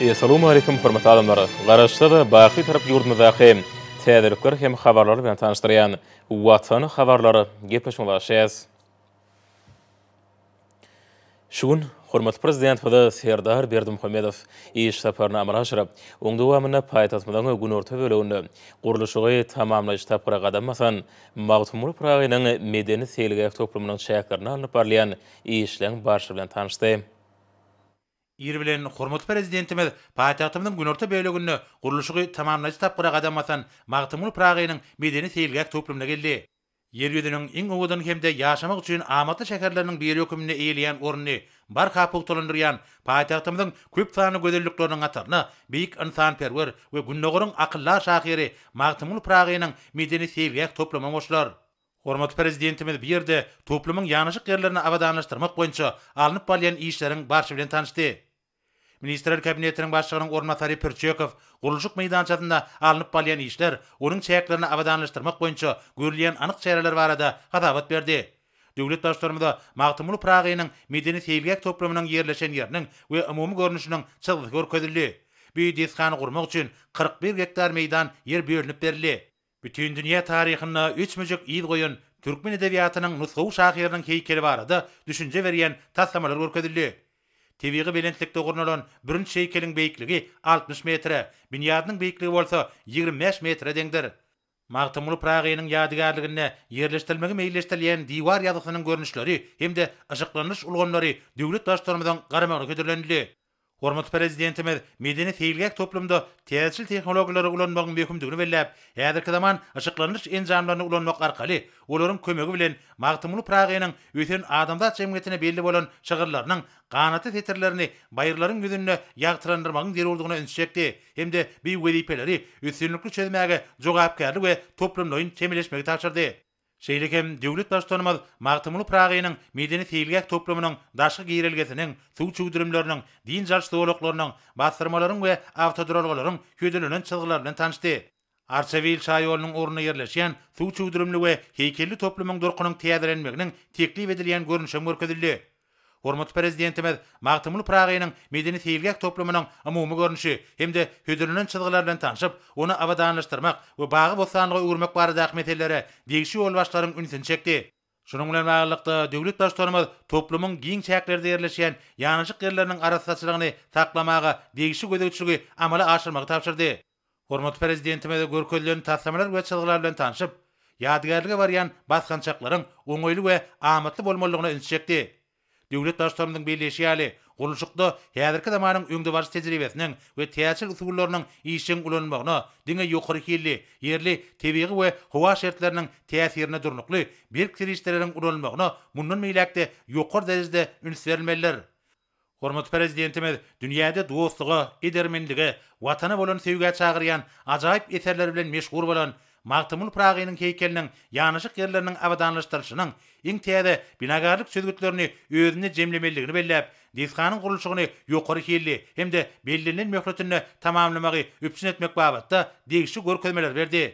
Essalamu Aleýkum hormatly adamlar! Garaşsyz, baky Türk ýurdumyzdaky täzelikler hem habarlar bilen tanyşdyrýan Watan habarlary gepleşigimizi açýas. Şu gün hormatly Prezidentimiz Serdar Berdimuhamedow iş saparyny amala aşyryp, oň dowamynda paýtagtymyzyň günorta böleginde gurluşygy tamamlaýyş tapgyra gadam basan Magtymguly Pyragynyň medeni-seýilgäh toplumynyň çäklerinde alnyp barylýan işleň barşy bilen tanyşdy. Ir bilen hormatly Prezidentimiz paýtagtymyzyň günorta böleginde gurluşygy tamamlaýjy tapgyra gadam basan Magtymguly Pyragynyň medeni-seýilgäh toplumyna geldi. Ýer ýüzüniň iň owadan hem-de ýaşamak üçin amatly şäherleriniň biri hökmünde eýeleýän ornuny barha pugtalandyrýan paýtagtymyzyň köp sanly gözellikleriniň hataryna beýik ynsanperwer we Gündogaryň akyldar şahyry Magtymguly Pyragynyň medeni-seýilgäh toplumam goşular. Hormatly Prezidentimiz bu ýerde toplumyň ýanaşyk ýerlerini abadanlaşdyrmak boýunça alnyp barylýan işleriň barşy bilen tanyşdy. Ministrler Kabinetiniň Başlygynyň orunbasary Pürçekow gurluşyk meýdançasynda alnyp barylýan işler, onuň çäklerini abadanlaşdyrmak boýunça görülýän anyk çäreler barada hasabat berdi. Döwlet Baştutanymyza Magtymguly Pyragynyň medeni-seýilgäh toplumynyň ýerleşen ýeriniň we umumy görnüşiniň çyzgysy görkezildi. Bu desgany gurmak üçin kyrk bir gektar meýdan ýer bölünip berildi. Bütindünýä taryhynda öçmejek yz goýan türkmen edebiýatynyň nusgawy şahyrynyň heýkeli barada düşünje berýän taslamalar görkezildi. Tebigy belentlikde gurnalan bürünç heýkeliň beýikligi altmyş metre, binýadynyň beýikligi bolsa ýigrimi bäş metre deňdir. Magtymguly Pyragynyň ýadygärligine ýerleşdirilmegi meýilleşdirilýän diwar ýazgysynyň görnüşleri hem-de yşyklandyryş ulgamlary döwlet Baştutanymyzyň garamagyna hödürlenildi. Hormatly Prezidentimiz medeni-seýilgäh toplumynda täzeçil tehnologiýalary ulanmagyň möhümdigini belläp, häzirki zaman yşyklandyryş enjamlaryny ulanmak arkaly, olaryň kömegi bilen Magtymguly Pyragynyň ösen adamzat jemgyýetine belli bolan şygyrlarynyň ganatly setirlerini baýyrlaryň ýüzünde ýagtylandyrmagyň zerurdygyna üns çekdi hem-de bu wezipeleri üstünlikli çözmäge jogapkärli we toplumlaýyn çemeleşmegi tabşyrdy. Şeýle hem döwlet Baştutanymyz Magtymguly Pyragynyň medeni-seýilgäh toplumynyň daşky girelgesiniň, suw çüwdürimleriniň, dynç alyş zolaklarynyň, bassyrmalaryň we awtoduralgalaryň hödürlenen çyzgylary bilen tanyşdy. Arçabil şaýolunyň ornuna ýerleşýän suw çüwdürimli we heýkelli toplumyň durkunyň täzelenmeginiň teklip edilýän görnüşem görkezildi. Hormatly Prezidentimiz Magtymguly Pyragynyň medeni-seýilgäh toplumynyň umumy görnüşi hem-de hödürlenen çyzgylar bilen tanşyp, ony abadanlaşdyrmak we bagy-bossanlyga öwürmek baradaky meselelere degişli ýolbaşçylaryň ünsüni çekdi. Şunuň bilen baglylykda, döwlet Baştutanymyz toplumyň giň çäklerde ýerleşýän ýanaşyk ýerleriniň arassaçylygyny saklamaga degişli gözegçiligi amala aşyrmagy tabşyrdy. Hormatly Prezidentimize görkezilen taslamalar we çyzgylar bilen tanşyp, ýadygärlige barýan basgançaklaryň oňaýly we amatly bolmalydygyna üns çekdi. Döwlet Baştutanymyzyň belleýşi ýaly, gurluşykda häzirki zamanyň öňdebaryjy tejribesiniň we täjir usullarynyň işjeň ulanylmagyna diňe ýokary hilli, ýerli tebigy we howa şertleriniň täsirine durnukly berk serişdeleriň ulanylmagyna mundan beýläk-de ýokary derejede üns berilmelidir. Hormatly Prezidentimiz dünýäde dostluga, edermenlige, Watana bolan söýgä çagyrýan ajaýyp eserleri bilen meşhur bolan Magtymguly Pyragynyň heýkeliniň ýanaşyk ýerleriniň abadanlaşdyrylyşynyň iň täze binagärlik çözgütlerini özünde jemlemelidigini belläp, desganyň gurluşygyny ýokary hilli hem-de bellenilen möhletinde tamamlamagy üpjün etmek babatda degişli görkezmeleri berdi.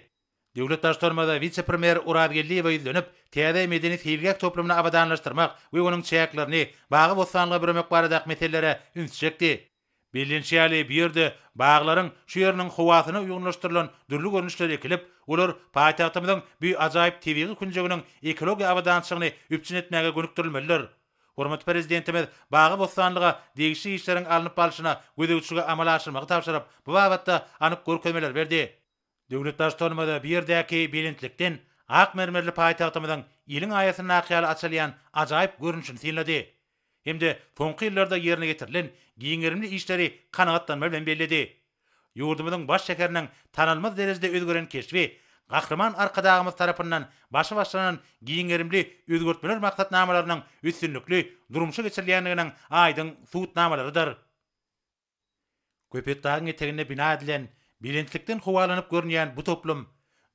Döwlet Baştutanymyz wise-premýer Urazgeldiýewe ýüzlenip, täze medeni-seýilgäh toplumyny abadanlaşdyrmak we onuň çäklerini bagy-bossanlyga büremek baradaky meselelere üns çekdi. Bellenişi ýaly, bu ýerde baglaryň şu ýeriniň howasyna uýgunlaşdyrylan dürli görnüşleri ekilip, olar paýtagtymyzyň bu ajaýyp tebigy künjeginiň ekologiýa abadançylygyny üpjün etmäge gönükdirilmelidir. Hormatly Prezidentimiz bagy-bossanlyga degişli işleriň alnyp barlyşyna gözegçiligi amala aşyrmagy tabşyryp, bu babatda anyk görkezmeler berdi. Döwlet Baştutanymyz bu ýerdäki belentlikden ak mermerli paýtagtymyzyň iliň aýasyndaky ýaly açylýan ajaýyp görnüşini synlady hem-de soňky ýyllarda ýerine ýetirilen giň gerimli işleri kanagatlanma bilen belledi. Ýurdumyzyň baş şäheriniň tanalmaz derejede özgeren keşbi Gahryman Arkadagymyz tarapyndan başy başlanan giň gerimli özgertmeler maksatnamalarynyň üstünlikli durmuşa geçirilýändiginiň aýdyň subutnamalarydyr. Köpetdagyň eteginde bina edilen, belentlikden howalanyp görünýän bu toplum,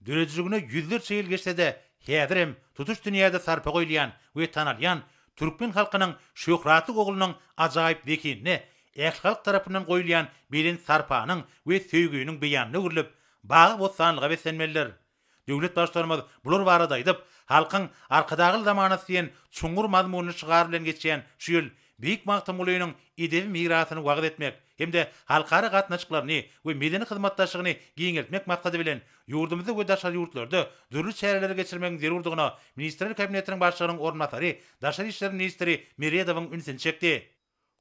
döredijiligine ýüzlerçe ýyl geçse-de, häzir hem tutuş dünýäde sarpa goýulýan we tanalýan türkmen halkynyň şöhratly oglunyň ajaýyp zehinine ählihalk tarapyndan goýulýan belent sarpanyň we söýginiň beýanyna öwrülip, bagy-bossanlyga beslenmelidir. Döwlet Baştutanymyz bular barada aýdyp, Halkyň Arkadagly zamanasy diýen çuňňur mazmunly şygar bilen geçýän şu ýyl Beýik Magtymgulynyň edebi mirasyny wagyz etmek hem-de halkara gatnaşyklaryny we medeni hyzmatdaşlygyny giňeltmek maksady bilen ýurdumyzda we daşary ýurtlarda dürli çäreleri geçirmegiň zerurdygyna Ministrler Kabinetiniň Başlygynyň orunbasary, daşary işler ministri Meredowyň ünsüni çekdi.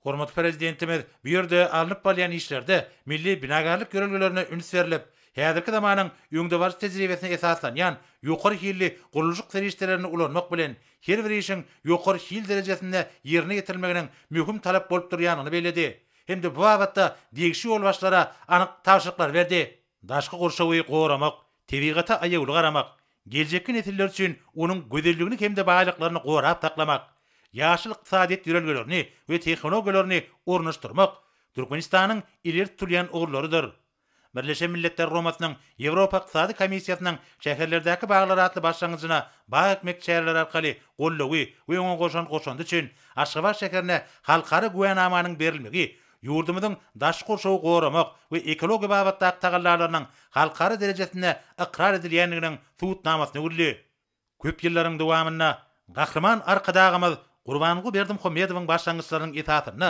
Hormatly Prezidentimiz bu ýerde alnyp barylýan işlerde milli binagärlik ýörelgelerine üns berlip, häzirki zamanyň öňdebaryjy tejribesine esaslanýan ýokary hilli gurluşyk serişdelerini ulanmak bilen, her bir işiň ýokary hil derejesinde ýerine ýetirilmeginiň möhüm talap bolup durýandygyny belledi hem-de bu babatda degişli ýolbaşçylara anyk tabşyryklary berdi. Daşky gurşawy goramak, tebigata aýawly garamak, geljekki nesiller üçin onuň gözelligini hem-de baýlyklaryny gorap saklamak, ýaşyl ykdysadyýet ýörelgelerini we tehnologiýalaryny ornaşdyrmak Türkmenistanyň ileri tutulýan ugurlarydyr. Birleşen Milletler Guramasynyň Ýewropa Ykdysady Komissiýasynyň Şäherlerdäki baglar atly başlangyjyna bag ekmek çäreleri arkaly goldawy we oňa goşan goşandy üçin Aşgabat şäherine halkara güwänamanyň berilmegi Ýurdumyzyň daşky gurşawy goramak we ekologiýa babatdaky tagallalarynyň halkara derejesinde ykrar edilýändiginiň subutnamasyna öwrüldi. Köp ýyllaryň dowamynda Gahryman Arkadagymyz Gurbanguly Berdimuhamedowyň başlangyçlarynyň esasynda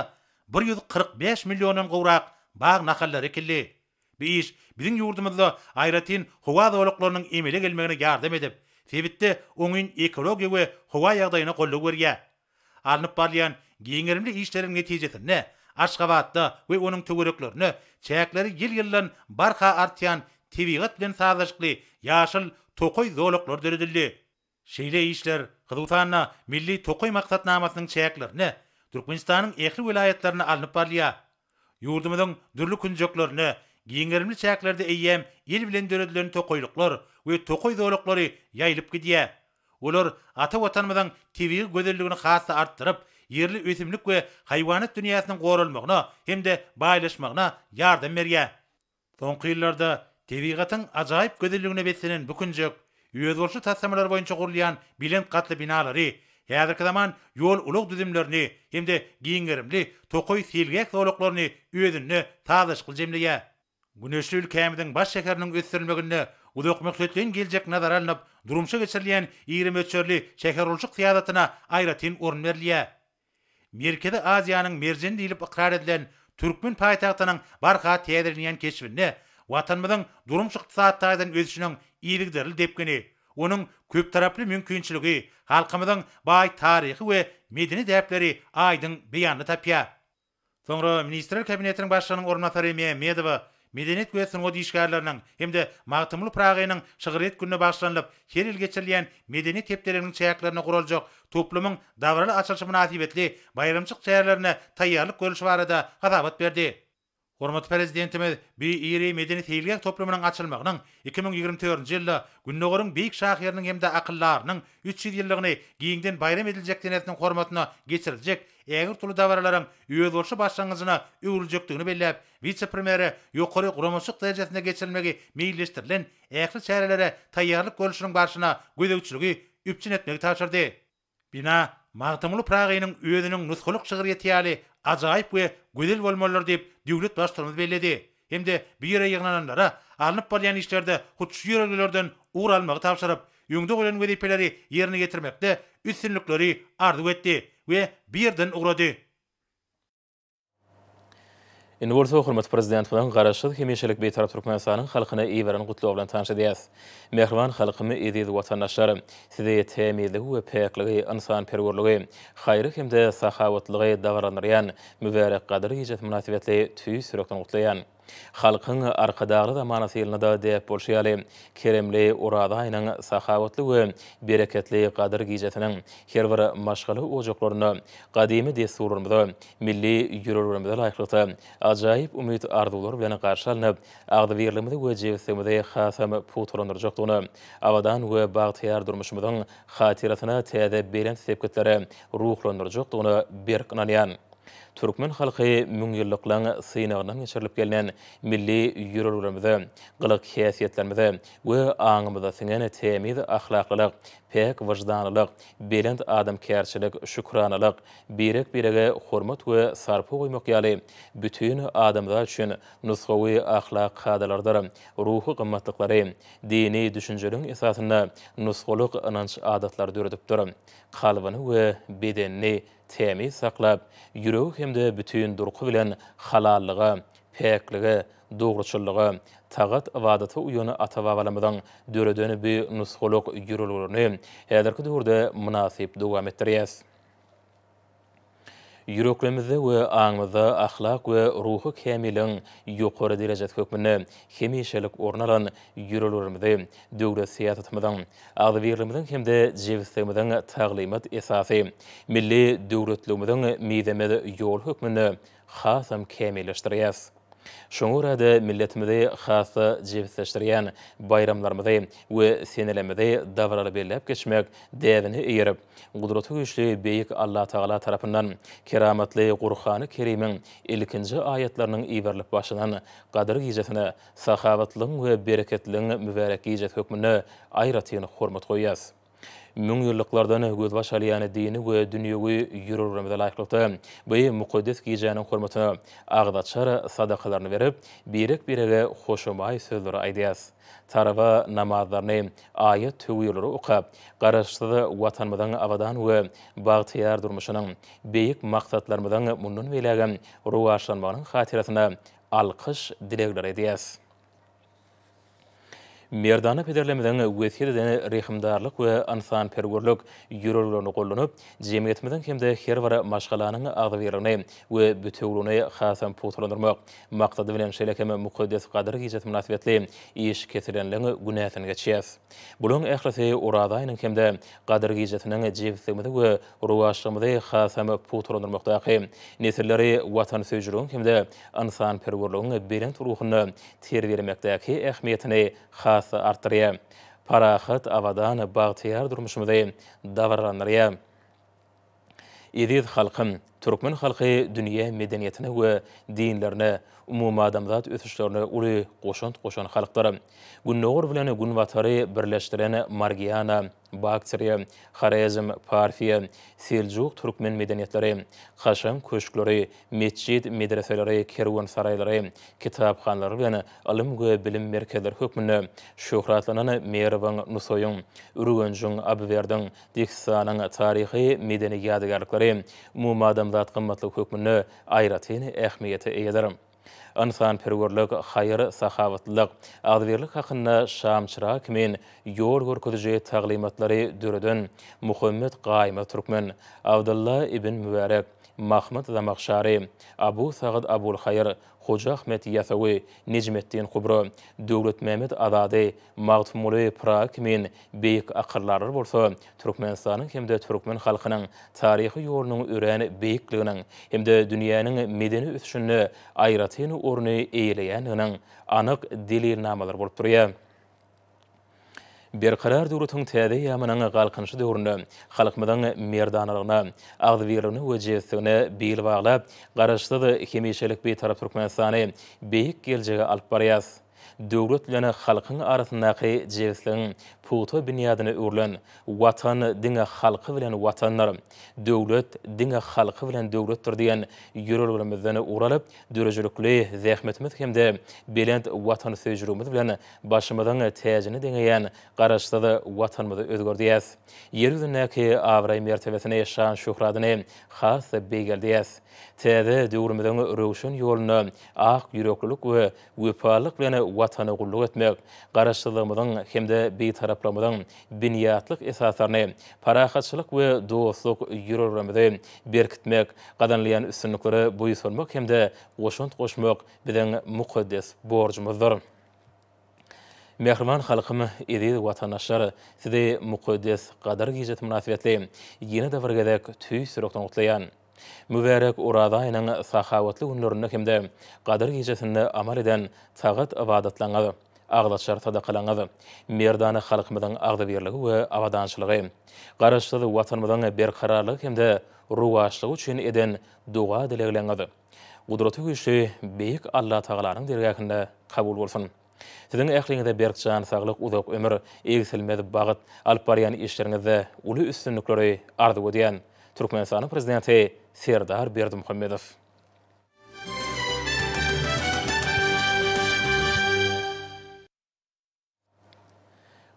bir ýüz kyrk bäş milliondan gowrak bag nahallary ekildi. Bu iş biziň ýurdumyzda aýratyn howa zolaklarynyň emele gelmegine ýardam edip, sebitde oňyn ekologiýa we howa ýagdaýyna goldaw berýär. Alnyp barylýan giň gerimli işleriň netijesinde Aşgabatda we onuň töwereklerinde çäkleri ýyl-ýyldan barha artýan tebigat bilen sazlaşykly ýaşyl tokaý zolaklary döredildi. Şeýle işler, hususan-da, Milli tokaý maksatnamasynyň çäklerinde Türkmenistanyň ähli welaýatlarynda alnyp barylýar. Ýurdumyzyň dürli künjeklerinde, giň gerimli çäklerde eýýäm el bilen döredilen tokaýlyklar we tokaý zolaklary ýaýylyp gidýär. Olar ata Watanymyzyň tebigy gözelligini has-da artdyryp, ýerli ösümlik we haýwanat dünýäsiniň goralmagyna hem-de baýlaşmagyna ýardam berýär. Soňky ýyllarda tebigatyň ajaýyp gözelligine beslenen bu künjek özboluşly taslamalary boýunça gurulýan belent gatly binalary, häzirki zaman ýol-ulag düzümlerini hem-de giň gerimli tokaý seýilgäh zolaklaryny özünde sazlaşykly jemleýär. Güneşli ülkämiziň baş şäheriniň ösdürilmeginde uzakmöhletleýin geljek nazara alnyp, durmuşa geçirilýän iri möçberli şähergurluşyk syýasatyna aýratyn orun berilýär. Merkezi Aziýanyň merjeni diýlip ykrar edilen türkmen paýtagtynyň barha täzelenýän keşbinde Watanymyzyň durmuş-ykdysady taýdan ösüşiniň yzygiderli depgini, onuň köptaraply mümkinçiligi, halkymyzyň baý taryhy we medeni däpleri aýdyň beýanyny tapýar. Soňra Ministrler Kabinetiniň Başlygynyň orunbasary Mämmedowa medeniýet we sungat işgärleriniň hem-de Magtymguly Pyragynyň şygryýet gününe bagyşlanylyp her ýyl geçirilýän Medeniýet hepdeliginiň çäklerinde guraljak toplumyň dabaraly açylyşy mynasybetli baýramçylyk çärelerine taýýarlyk görlüşi barada hasabat berdi. Hormatly Prezidentimiz bu iri medeni-seýilgäh toplumynyň açylmagynyň iki müň ýigrimi dördünji ýylda Gündogaryň beýik şahyrynyň hem-de akyldarynyň üç ýüz ýyllygyny giňden baýram ediljek senesiniň hormatyna geçiriljek ägirt uly dabaralaryň özboluşly başlangyjyna öwrüljekdigini belläp, wise-premýere ýokary guramaçylyk derejesinde geçirilmegi meýilleşdirilen ähli çärelere taýýarlyk görlüşiniň barşyna gözegçiligi üpjün etmegi tabşyrdy. Bina Magtymguly Pyragynyň özüniň nusgalyk şygryýeti ýaly ajaýyp we gözel bolmalydyr diýip, döwlet Baştutanymyz belledi. hem-de bu ýere ýygnananlara alnyp barylýan işlerde hut şu ýörelgelerden ugur almagy tabşyryp, öňde goýlan wezipeleri ýerine ýetirmekde üstünlikleri arzuw etdi we bu ýerden ugrady. Indi bolsa hormatly Prezidentimiziň Garaşsyz, hemişelik Bitarap Türkmenistanyň halkyna iberen gutlagy bilen tanyş edýäris. Mähriban halkym, eziz watandaşlar! Sizi tämizligi we päkligi, ynsanperwerligi, haýry hem-de sahawatlylygy dabaralandyrýan Mübärek Gadyr gijesi mynasybetli tüýs ýürekden gutlaýan. Halkyň Arkadagly zamanasy ýylynda-da däp bolşy ýaly, keremli Oraza aýynyň sahawatly we bereketli Gadyr gijesiniň her bir maşgala ojaklarynda gadymy dessurlarymyza, milli ýörelgelerimize laýyklykda, ajaýyp umyt-arzuwlar bilen garşy alnyp, agzybirligimizi we jebisligimizi hasam pugtalandyrjakdygyna, abadan we bagtyýar durmuşymyzyň hatyrasyna täze belent sepgitlere ruhlandyrjakdygyna berk ynanýan. Türkmen halky müňýyllyklaň synagyndan geçirilip gelnen milli ýörelgelerimize, gylyk-häsiýetlerimize we aňymyza siňen tämiz ahlaklylyk, päk wyždanlylyk, belent adamkärçilik, şükranalyk, birek-birege hormat we sarpa goýmak ýaly bütin adamzat üçin nusgawy ahlak kadalarydyr ruhy gymmatlyklary, dini düşünjeleriň esasynda nusgalyk ynanç-adatlary döredipdir. kalbyny we bedenini tämiz saklap, ýüregi hem-de bütin durky bilen halallyga, päklige, dogruçyllyga, tagat-ybadata uýan ata-babalarymyzyň döreden bi nusgalyk ýörelgelerini häzirki döwürde mynasyp dowam etdirýäs. Ýüreklerimizde we aňymyzda ahlak we ruhy kämilligiň ýokary derejesi hökmünde hemişelik orun alan ýörelgelerimizi, döwlet syýasatymyzyň, agzybirligimiziň hem-de jebisligimiziň taglymat esasy, milli döwletligimiziň mizemez ýoly hökmünde hasam kämilleşdirýäs. Şoňa görä-de, milletimizi has-da jebisleşdirýän baýramlarymyzy we senelerimizi dabaraly belläp geçmek däbine eýerip, Gudraty Güýçli Beýik Allatagala tarapyndan keramatly Gurhany Kerimiň ilkinji aýatlarynyň iberilip başlanan Gadyr gijesine sahawatlylygyň we bereketligiň mübärek gijesi hökmünde aýratyn hormat goýýas. Müňýyllyklardan gözbaş alýan dini we dünýewi ýörelgelerimize laýyklykda, bu mukaddes gijäniň hormatyna agzaçar sadakalaryny berip, birek-birege hoşamaý sözleri aýdýarys. Tarawa namazlaryny, aýat-töwirleri okap, Garaşsyz Watanymyzyň abadan we bagtyýar durmuşynyň, beýik maksatlarymyzyň mundan beýlägem rowaçlanmagynyň hatyrasyna alkyş-dilegler edýäris. Merdana pederlerimiziň wesýet eden rehimdarlyk we ynsanperwerlik ýörelgelerini gollanyp, jemgyýetimiziň hem-de her bir maşgalanyň agzybirligini we bütewüligini hasam pugtalandyrmak maksady bilen şeýle hem mukaddes Gadyr gijesi mynasybetli iş kesilenligiň günäsini geçýäs. Bularyň ählisi Oraz aýynyň hem-de Gadyr gijesiniň jebisligimizi we rowaçlygymyzy hasam pugtalandyrmakdaky, nesilleri watansöýüjiligiň hem-de ynsanperwerligiň belent ruhunda ter bermekdäki ähmiýetini has-da artdyrýar, parahat, abadan, bagtyýar durmuşymyzy dabaralandyrýar. Eziz halkym, türkmen halky dünýä medeniýetine we dinlerine, umumadamzat ösüşlerine uly goşant goşan halkdyr. Gündogar bilen Günbatary birleşdiren Margiana, Baktriýa, Horezm, Parfiýa, Seljuk türkmen medeniýetleri, kaşaň köşkleri, metjit, medreseleri, kerwensaraýlary, kitaphanalary bilen ylym we bilim merkezleri hökmünde şöhratlanan Merwiň, Nusaýyň, Ürgenjiň, Abywerdiň, Dehistanyň taryhy, medeni ýadygärlikleri umumadamzat gymmatlygy hökmünde aýratyn ähmiýete eýedir. Ynsanperwerlik, haýyr, sahawatlylyk, agzybirlik hakynda şamçyrag kimin ýol görkeziji taglymatlary döreden Muhammet Gaýma Türkmen, Abdylla ibn Mübärek, Mahmyt Zamahşary, Abu Sagyd Abulhaýyr, Hoja Ahmet Ýasawy, Nejmeddin Kubra, Döwletmämmet Azady, Magtymguly Pyragy kimin beýik akyldarlar bolsa Türkmenistanyň hem-de türkmen halkynyň taryhy ýolunyň örän beýikliginiň hem-de dünýäniň medeni ösüşinde aýratyn orny eýeleýändiginiň anyk delilnamalary bolup durýar. Berkarar döwletiň täze eýýamynyň Galkynyşy döwründe halkymyzyň merdanalygyna, agzybirligine we jebisligine bil baglap, Garaşsyz, hemişelik Bitarap Türkmenistany beýik geljege alyp barýarys. Döwlet bilen halkyň arasyndaky jebisligiň pugta binýadyna öwrülen Watan diňe halky bilen Watandyr, döwlet diňe halky bilen döwletdir diýen ýörelgemizden ugur alyp, döredijilikli zähmetimiz hem-de belent watansöýüjiligimiz bilen başymyzyň täjini deňeýän Garaşsyz Watanymyzy özgerdýäs. Ýer ýüzündäki abraý-mertebesini, şan-şöhratyny has-da beýgeldýäs. Täze döwrümiziň röwşen ýolunda ak ýüreklilik we wepalylyk bilen Watana gulluk etmek, Garaşsyzlygymyzyň hem-de Bitaraplygymyzyň binýatlyk esaslaryny, parahatçylyk we dostluk ýüregrimizi berkitmek, gazanylýan üstünliklere buýsanmak hem-de goşant goşmak biziň mukaddes borjumyzdyr. Mähriban halkym, eziz watandaşlar, sizi mukaddes Gadyr gijesi mynasybetli ýene-de bir gezek tüýs ýürekden gutlaýan. Mübärek Oraza aýynyň sahawatly günlerinde hem-de Gadyr gijesinde amal eden tagat ybadatlaryňyz, agzaçar sadakalaryňyz, merdana halkymyzyň agzybirligi we abadançylygy, Garaşsyz Watanymyzyň berkararlygy hem-de rowaçlygy üçin eden doga-dilegleriňiz Gudratygüýçli Beýik Allatagalanyň dergähinde kabul bolsun! Siziň ähliňize berk jan saglyk uzak ömür egsilmez bagt alyp barýan işleriňizde uly üstünlikleri arzuw edýän Türkmenistanyň Prezidenti Serdar Berdimuhamedow.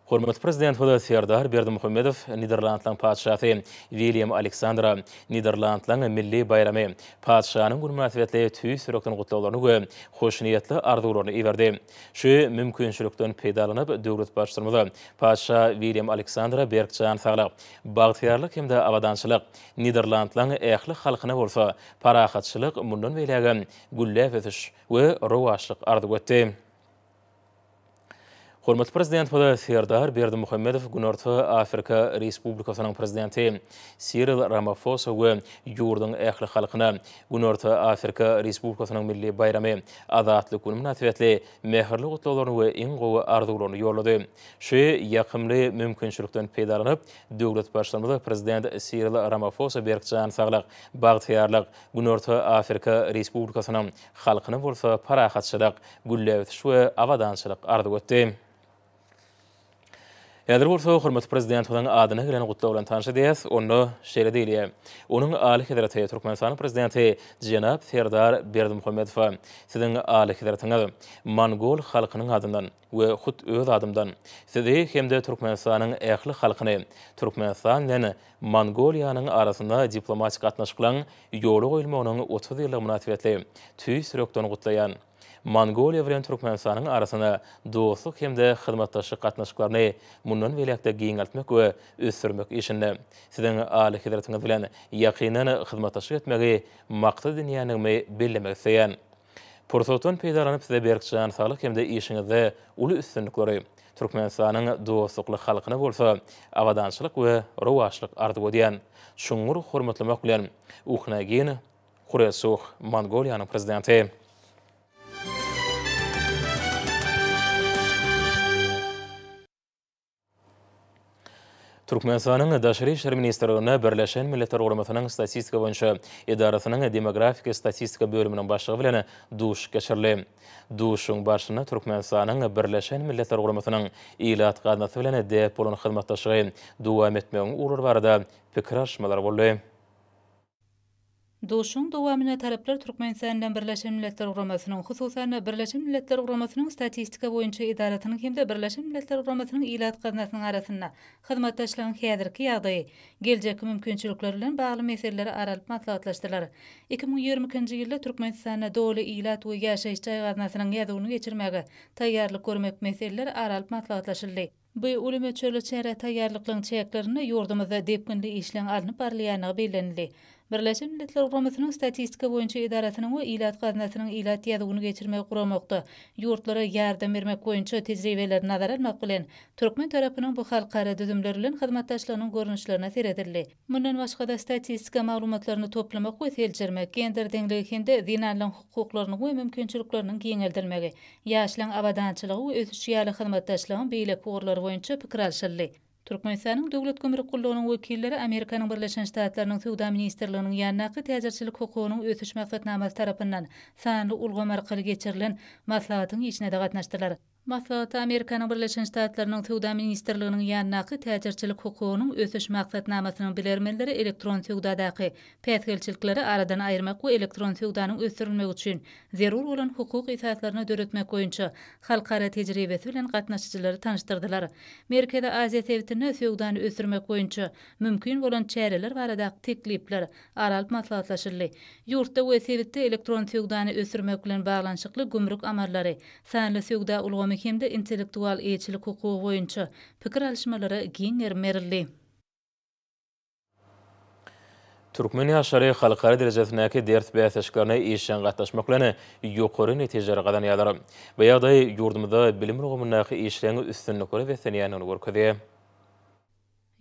Hormatly Prezidentimiz Serdar Berdimuhamedow Niderlandlaryň Patyşasy William Aleksandra Niderlandlaryň milli baýramy, Patyşanyň güni mynasybetli tüýs ýürekden gutlaglaryny we hoşniýetli arzuwlaryny iberdi. Şu mümkinçilikden peýdalanyp, döwlet Baştutanymyza Patyşa William Aleksandra berk jan saglyk, bagtyýarlyk hem-de abadançylyk, Niderlandlaryň ähli halkyna bolsa parahatçylyk, mundan beýlägem gülläp ösüş we rowaçlyk arzuw etdi. Hormatly Prezidentimiz Serdar Berdimuhamedow Günorta Afrika Respublikasynyň Prezidenti Siril Ramafosa we ýurduň ähli halkyna Günorta Afrika Respublikasynyň milli baýramy, Azatlyk güni mynasybetli mähirli gutlaglaryny we iň gowy arzuwlaryny ýollady. Şu ýakymly mümkinçilikden peýdalanyp, döwlet Başlygynyza Prezident Siril Ramafosa berk jan saglyk, bagtyýarlyk, Günorta Afrika Respublikasynyň halkyna bolsa parahatçylyk, güllä ösüş we abadançylyk arzuw etdi. Häzir bolsa hormatly Prezidentimiziň adyna gelen gutlag bilen tanşydyas, onda şeýle diýilýär, Onuň Alyhezreti Türkmenistanyň Prezidenti jenap Serdar Berdimuhamedowa, Siziň Alyhezretiňiz, mongol halkynyň adyndan, we hut öz adymdan Sizi hem-de Türkmenistanyň ähli halkyny Türkmenistan bilen Mongoliýanyň arasynda diplomatik gatnaşyklaryň ýola goýulmagynyň otuz ýyllygy mynasybetli tüýs ýürekden gutlaýan. Mongoliýa bilen Türkmenistanyň arasynda dostluk hem-de hyzmatdaşlyk gatnaşyklaryny mundan beýläk-de giňeltmek we ösdürmek işinde Siziň Alyhezretiňiz bilen ýakyndan hyzmatdaşlyk etmegi maksat edinýändigimi bellemek isleýän. Pursatdan peýdalanyp size berk jan saglyk hem-de işiňizde uly üstünlikleri, Türkmenistanyň dostlukly halkyna bolsa abadançylyk we rowaçlyk arzuw edýän. Çuňňur hormatlamak bilen, Uhnagin Huresuh, Mongoliýanyň Prezidenti. Türkmenistanyň Daşary işler ministrliginde Birleşen Milletler Guramasynyň Statistika boýunça edarasynyň Demografiki statistika bölüminiň başlygy bilen duşuşyk geçirildi. Duşuşygyň barşynda Türkmenistanyň Birleşen Milletler Guramasynyň Ilat gaznasy bilen däp bolan hyzmatdaşlygy dowam etmegiň ugurlary barada pikir alyşmalar boldy. Duşuşygyň dowamynda taraplar Türkmenistan bilen Birleşen Milletler Guramasynyň, hususan-da, Birleşen Milletler Guramasynyň Statistika boýunça edarasynyň hem-de Birleşen Milletler Guramasynyň Ilat gaznasynyň arasynda hyzmatdaşlygyň häzirki ýagdaýy, geljekki mümkinçilikleri bilen bagly meseleleri ara alyp maslahatlaşdylar. Iki müň ýigrimi ikinji ýylda Türkmenistanda doly ilat we ýaşaýyş jaý gaznasynyň ýazuwyny geçirmäge taýýarlyk görmek meseleleri ara alyp maslahatlaşyldy. Bu uly möçberli çärä taýýarlyklygyň çäklerinde ýurdumyzda depginli işleň alnyp barylýandygy bellenildi. Birleşen Milletler Guramasynyň Statistika boýunça edarasynyň we Ilat gaznasynyň ilat ýazuwyny geçirmegi guramakda ýurtlara ýardam bermek boýunça tejribelerini nazara almak bilen, türkmen tarapynyň bu halkara düzümler bilen hyzmatdaşlygynyň görnüşlerine seredildi. Mundan başga-da, statistika maglumatlaryny toplamak we seljermek, gender deňligi hem-de zenanlaryň hukuklarynyň we mümkinçilikleriniň giňeldilmegi, Ýaşlaryň abadançylygy we ösüşi ýaly hyzmatdaşlygyň beýleki ugurlary boýunça pikir alşyldy. Türkmenistanyň Döwlet gümrük gullugynyň wekilleri Amerikanyň Birleşen Ştatlarynyň Söwda ministrliginiň ýandaky täjirçilik hukugynyň ösüş maksatnamasy tarapyndan sanly ulgam arkaly geçirilen maslahatyň işine-de gatnaşdylar. Maslahata Amerikanyň Birleşen Ştatlarynyň Söwda ministrliginiň ýandaky täjirçilik hukugynyň ösüş maksatnamasynyň bilermenleri elektron söwdadaky päsgelçilikleri aradan aýyrmak we elektron söwdanyň ösdürilmegi üçin zerur bolan hukuk esaslaryny döretmek boýunça halkara tejribesi bilen gatnaşyjylary tanyşdyrdylar. Merkezi Aziýa sebitinde söwdany ösdürmek boýunça mümkin bolan çäreler baradaky teklipler ara alyp maslahatlaşyldy. Ýurtda we sebitde elektron söwdany ösdürmek bilen baglanyşykly gümrük amarlary, sanly söwda ulgamy hem-de intellektual eýeçilik hukugy boýunça pikir alyşmalara giň gerim berildi. Türkmen ýaşlary halkara derejesindäki ders bäsleşiklerine işjeň gatnaşmak bilen, ýokary netijeleri gazanýarlar. Bu ýagdaý ýurdumyzda bilim ulgamyndaky işleň üstünliklere beslenýändigini görkezýär.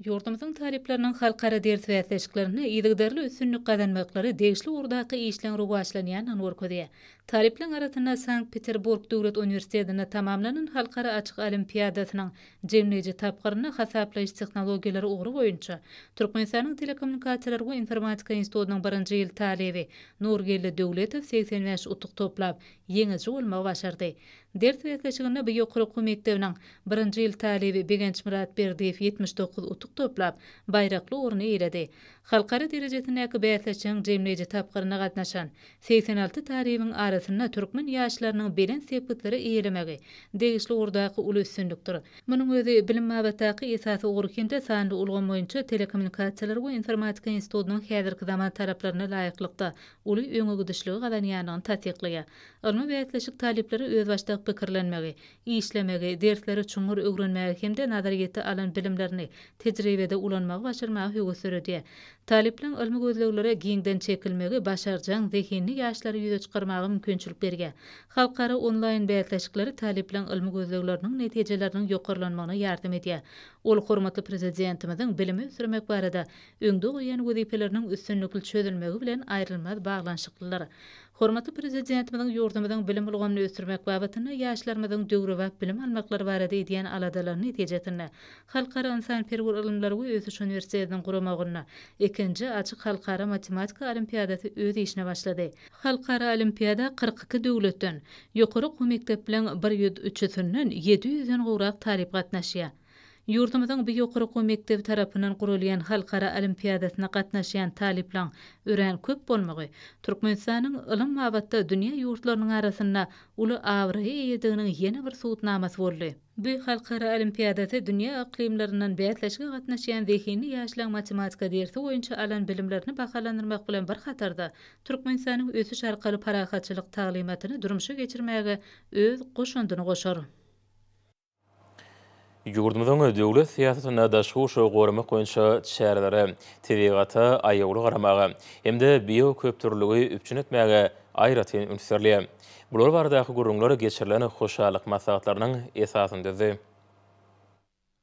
Ýurdumyzyň talyplarynyň halkara ders bäsleşiklerinde yzygiderli üstünlik gazanmaklary degişli ugurdaky işleň rowaçlanýandygyny görkezýär. Talyplaryň arasynda Sankt-Peterburg döwlet uniwersitetinde tamamlanan halkara açyk olimpiadasynyň Jemleýji tapgyrynda hasaplaýyş tehnologiýalary ugry boýunça Türkmenistanyň Telekommunikasiýalar we informatika institutynyň birinji ýyl talyby Nurgeldi Döwletow segsen bäş utuk toplap, ýeňiji bolmagy başardy. Ders bäsleşiginde bu ýokary okuw mekdebiniň birinji ýyl talyby Begençmyrat Berdiýew ýetmiş dokuz utuk toplap, baýrakly orny eýeledi. Halkara derejesindäki bäsleşigiň jemleýji tapgyryna gatnaşan Segsen alty talybyň arasynda türkmen ýaşlarynyň belent sepgitleri eýelemegi degişli ugurdaky uly üstünlikdir. Munuň özi bilim babatdaky esasy ugur hem-de sanly ulgam boýunça Telekommunikasiýalar we informatika institutynyň häzirki zaman talaplaryna laýyklykda uly öňegidişligi gazanýandygyny tassyklaýar. Ylmy bäsleşik talyplary özbaşdak pikirlenmegi, işlemegi, dersleri çuňňur öwrenmegi hem-de nazaryýetde alan bilimlerini tejribede ulanmagy başarmaga höwes döredýär. Talyplygyň ylmy gözleglere giňden çekilmegi başarjaň, zehinli ýaşlary ýüze çykarmaga mümkinçilik berýär. Halkara onlaýn bäsleşikleri talyplygyň ylmy gözlegleriniň netijeleriniň ýokarlanmagyna ýardam edýär. Ol hormatly Prezidentimiziň bilimi ösdürmek barada öňde goýan wezipeleriniň üstünlikli çözülmegi bilen aýrylmaz baglanyşyklydyr. Hormatly Prezidentimiziň ýurdumyzyň bilim ulgamyny ösdürmek babatynda ýaşlarymyzyň döwrebap bilim almaklary barada edýän aladalary netijesinde Halkara ynsanperwer ylymlar we ösüş uniwersitetiniň guramagynda ikinji Açyk halkara matematika olimpiadasy öz işine başlady. Halkara olimpiada kyrk iki döwletden, ýokary okuw mekdepleň bir ýüz üçüsinden ýedi ýüzden gowrak talyp gatnaşýar. Ýurdumyzyň bu ýokary okuw mekdebi tarapyndan guralýan halkara olimpiadasyna gatnaşýan talyplaryň örän köp bolmagy Türkmenistanyň ylym babatda dünýä ýurtlarynyň arasynda uly abraýa eýediginiň ýene bir subutnamasy boldy. Bu halkara olimpiadasy dünýä yklymlaryndan bäsleşige gatnaşýan zehinli ýaşlaryň matematika dersi boýunça alan bilimlerini bahalandyrmak bilen bir hatarda, Türkmenistanyň ösüş arkaly parahatçylyk taglymatyny durmuşa geçirmäge öz goşandyny goşar. Ýurdumyzyň döwlet syýasatynda daşky gurşawy goramak boýunça çärelere, tebigata aýawly garamaga hem-de bioköpdürlüligi üpjün etmäge aýratyn üns berilýär. Bular baradaky gürrüňler geçirilen hoşallyk maslahatlarynyň esasyny düzdi.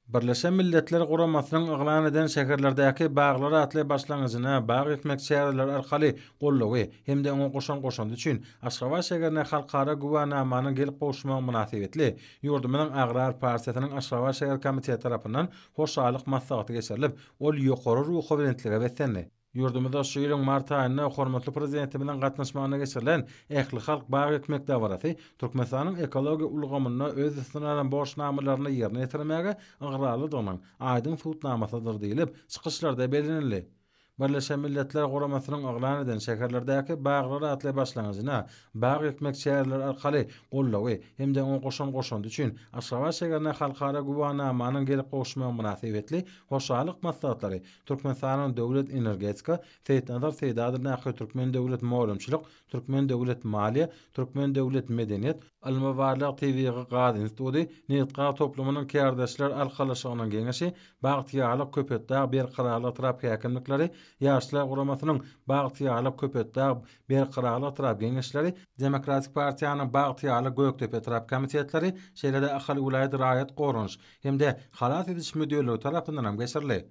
Birleşen Milletler Guramasynyň yglan eden Şäherlerdäki baglar atly başlangyjyna bag ekmek çäreleri arkaly goldawy hem-de oňa goşan goşandy üçin Aşgabat şäherine Halkara güwänamanyň gelip gowuşmagy mynasybetli ýurdumyzyň Agrar partiýasynyň Aşgabat şäher komiteti tarapyndan hoşallyk maslahaty geçirilip, ol ýokary ruhubelentlige beslendi. Ýurdumyzda şu ýylyň mart aýynda hormatly Prezidentimiziň gatnaşmagynda geçirilen ählihalk bag ekmek dabarasy Türkmenistanyň ekologiýa ulgamynda öz üstüne alan borçnamalaryny ýerine ýetirmäge ygrarlydygynyň aýdyň subutnamasydyr diýlip, çykyşlarda bellenildi. Birleşen Milletler Guramasynyň yglan eden Şäherlerdäki baglar atly başlangyjyna bag ekmek çäreleri arkaly goldawy hem-de oňa goşan goşandy üçin Aşgabat şäherine Halkara güwänamanyň gelip gowuşmagy mynasybetli hoşallyk maslahatlary Türkmenistanyň Döwlet energetika, Seýitnazar Seýdadyndaky Türkmen döwlet mollumçylyk, Türkmen döwlet maliýe, Türkmen döwlet medeniýet, ylmy-barlag tebigy gaz institudy, Nebitgaz toplumynyň kärdeşler arkalaşygynyň geňeşi, Bagtyýarlyk Köpetdag Berkararlyk etrap häkimlikleri, Ýaşlar guramasynyň Bagtyýarlyk Köpetdag Berkararlyk etrap geňeşleri, Demokratik partiýanyň Bagtyýarlyk Gökdepe etrap komitetleri, şeýle-de Ahal welaýat raýat goranyş, hem-de halas ediş müdirligi tarapyndanam geçirildi.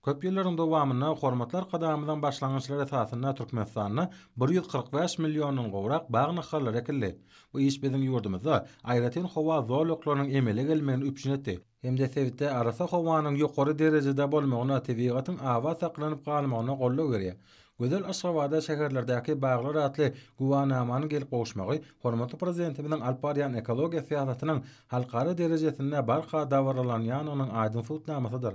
Köp ýyllaryň dowamynda Hormatly Arkadagymyzyň başlangyçlary esasynda Türkmenistanda bir ýüz kyrk bäş milliondan gowrak bag naharlary ekildi. Bu iş biziň ýurdumyzda aýratyn howa zolaklarynyň emele gelmegini üpjün etdi, hem-de sebitde arassa howanyň ýokary derejede bolmagyna, tebigatyň abat saklanyp galmagyna goldaw berýär. Gözel Aşgabada şäherlerdäki baglar atly Güwanamanyň gelip gowuşmagy hormatly Prezidentimiziň alyp barýan ekologiýa syýasatynyň halkara derejesinde barha dabaralanýanynyň aýdyň subutnamasydyr.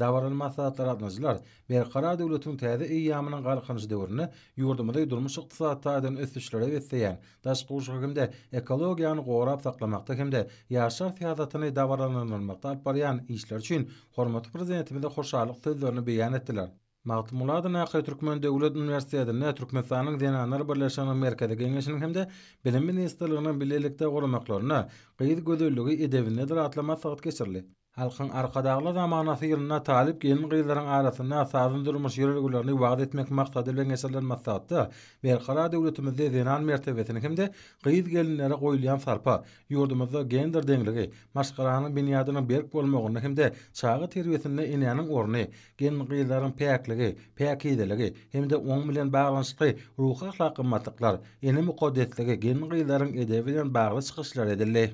Dabaraly maslahatlar gatnaşyjylar Berkarar döwletiň täze eýýamynyň Galkynyş döwründe ýurdumyzy durmuş-ykdysady taýdan ösüşlere besleýän daşky gurşawy hem-de ekologiýany gorap saklamakda hem-de ýaşlar syýasatyny dabaralandyrmakda alyp barýan işleri üçin hormatly Prezidentimize hoşallyk sözlerini beýan etdiler. Magtymguladyn Näkaý Türkmen döwlet uniwersitetinde Türkmenistanyň Zenanlar birleşiginiň Merkezi Geňeşiniň hem-de Bilim ministrliginiň bilelikde guramaklarynda Gyz gözelligi edebindedir atly maslahat geçirildi. Halkyň Arkadagly zamanasy ýylynda talyp gelin-gyzlaryň arasynda sazyn-durmuş ýörelgelerini wagyz etmek maksady bilen geçirilen maslahatda berkarar döwletimizde zenan mertebesine hem-de gyz-gelinlere goýulýan sarpa, ýurdumyzda gender deňligi, maşgalanyň binýadynyň berk bolmagynda hem-de çaga terbiýesinde enäniň orny, Gelin-gyzlaryň päkligi, päkizeligi hem-de onuň bilen baglanyşykly ruhy-ahlak gymmatlyklar, ene mukaddesligi, gelin-gyzlaryň edebi bilen bagly çykyşlar edildi.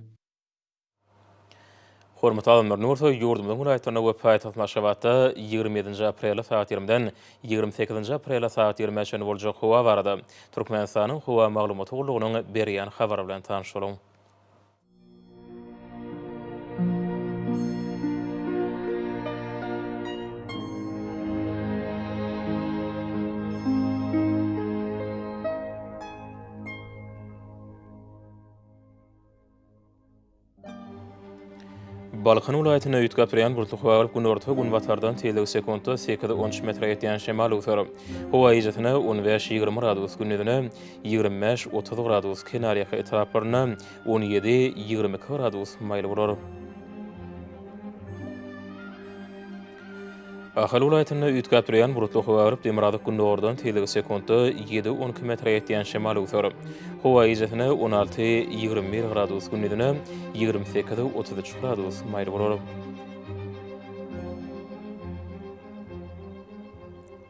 Hormatly adamlar, ne bolsa ýurdumyzyň welaýatlarynda we paýtagtymyz Aşgabatda ýigrimi ýedinji aprelde sagat ýigrimden ýigrimi sekizinji aprele sagat ýigrime çenli boljak howa barada Türkmenistanyň Howa maglumaty gullugynyň berýän habary bilen tanyşalyň. Balkan welaýatynda üýtgäp-birän burlukly bolup, günorta-günbatardan tizligi sekuntda sekiz-on üç metre ýetýän şemal öwser. Howa gijasine on bäş-ýigrimi gradus, gündizine ýigrimi bäş-otuz gradus, kenarýaka etraplarynda On ýedi, ýigrimi iki gradus maýyl bolar. Ahal welaýatynda üýtgäp durýan bulutly howa girip, demirgazyk gündogardan tizligi sekuntda ýedi, on iki metre ýetýän şemal öwser. Howa gijäsine on alty, ýigrimi bir gradus, gündizine ýigrimi sekiz, otuz üç gradus maýyl bolar.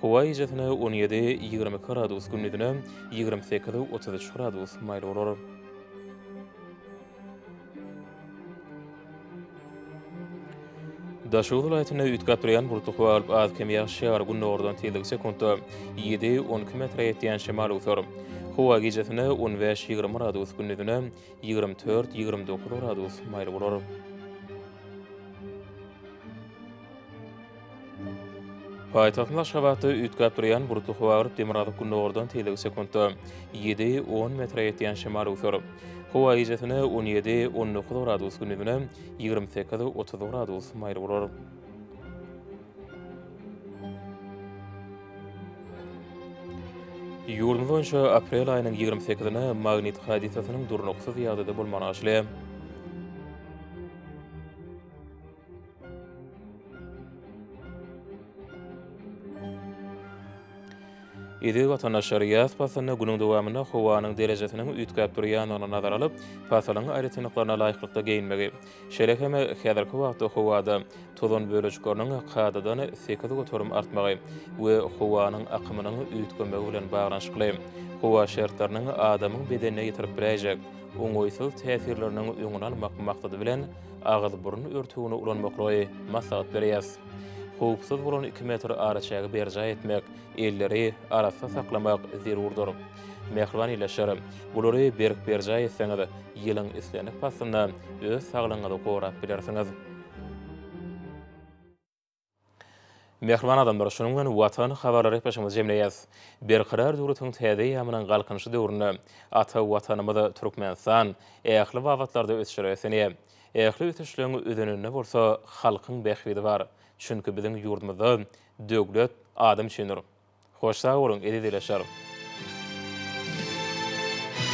Howa gijesine on ýedi, ýigrimi iki gradus, gündizine ýigrimi sekiz, otuz üç gradus maýyl bolar. Daşoguz welaýatynda üýtgäp durýan bulutly howa galyp az-kem ýagyş ýagar, gündogardan tizligi sekuntda ýedi, on iki metre ýetýän şemal öwser. Howa gijesine on bäş, ýigrimi gradus, gündizine ýigrimi dört, ýigrimi dokuz gradus maýyl bolar. Paýtagtyň Aşgabatda üýtgäp durýan bulutly howa agyryp, demirgazyk gündogardan teýligi sekuntda ýedi, on metre ýetýän şemal öwser. Howa gijesine on ýedi, on dokuz gradus, gündizine ýigrimi sekiz, otuz gradus maýyl bolar. Ýurdumyz boýunça aprel aýynyň ýigrimi sekizine magnit hadysasynyň durnuksyz ýagdaýda bolmagyny garşylaýar. Eziz watandaşlar, ýaz paslynda günüň dowamynda howanyň derejesiniň üýtgäp durýandygyny nazara alyp, pasylyň aýratynlyklaryna laýyklykda geýinmegi, şeýle hem häzirki wagtda howada tozan bölejikleriniň kadadan sekiz göterim artmagy we howanyň akymynyň üýtgemegi bilen baglanyşykly howa şertleriniň adamyň bedenine ýetirip biläýjek oňaýsyz täsirleriniň öňüni almak maksady bilen agyz-burun örtügini ulanmaklygy maslahat berýäs. Howpsuz bolan iki metr araçägi berjaý etmek, elleri arassa saklamak zerurdyr. Mähriban ildeşler, bulary berk berjaý etseňiz, ýylyň islendik paslynda öz saglygyňyzy gorap bilersiňiz. Mähriban adamlar, şunuň bilen Watan habarlary gepleşigimizi jemleýäs. Berkarar döwletiň täze eýýamynyň Galkynyşy döwründe ata Watanymyz Türkmenistan ähli babatlarda ösüşlere beslenýär. Ähli ösüşleriň özeninde bolsa halkyň bähbidi bar. Çünki biziň ýurdumyzda döwlet adam üçindir. Hoş sag boluň, eziz dileşler!